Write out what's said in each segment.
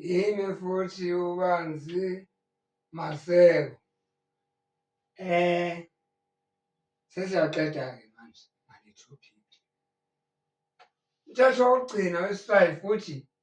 yini futhi ubanzi maseko eh sesiyaqeda ke manje ngale topic mthetho wokugcina wesifayi futhi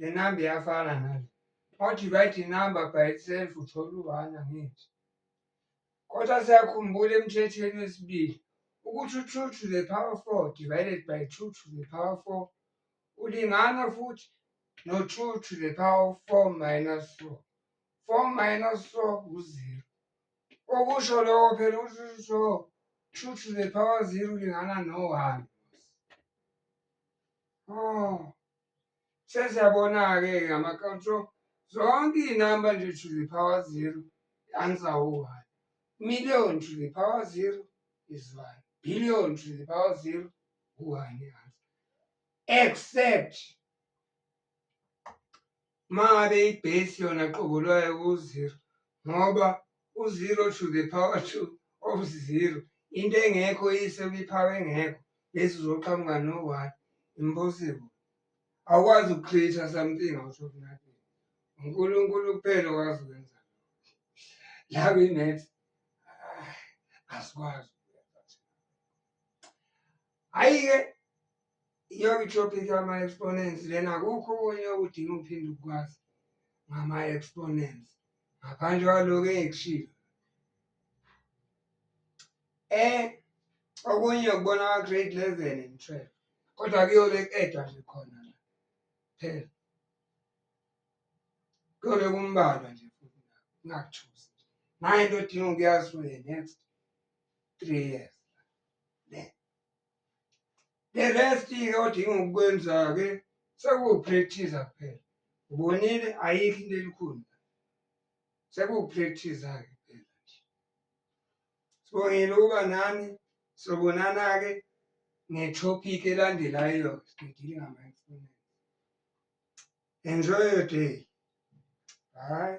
le namba iyafana nale uma udivide inamba by itself uthola u-one angithi kodwa siyakhumbula emthethweni wesibili ukuthi u-two to the power four divided by two to the power four ulingana futhi no-two to the power four minus four four minus four uzero okusho lokho phela ukuthi usho two to the power zero ulingana no-one oh sesiyabona-ke ngama-control zonke iy'namba nje to the power zero i-answer u-one million to the power zero is one billion to the power zero u-one i-answer except uma ngabe ibhesi yona qobo lwayo ku-zero ngoba u-zero to the power to of zero into engekho iyise kwi-power engekho bese uzoqhamuka no-one impossible awukwazi uku-create-a something out of nothing unkulunkulu kuphela okwazi ukwenza la kwi-math asikwazi hhayi-ke Iyobe itopic yama-exponents lena akukho okunye okudinga ukuphinde ukukwazi ngama-exponents ngaphandle kwaloko engikushilo um okunye ukubona kwa-grade eleven and twelve kodwa kuyole ku-edwa nje khona la phela kuyobe kumbalwa nje futhi ngakuthusi nayo into odinga ukuyazi for the next three years the rest ke odinga ukukwenza ke sekuwupractice kuphela ubonile ayikho into elikhulu sekuwupractice ke kuphela nje sibongile ukuba nani sobonana ke ngetopic elandelayo sididile ngamainstrument enjoy your day bye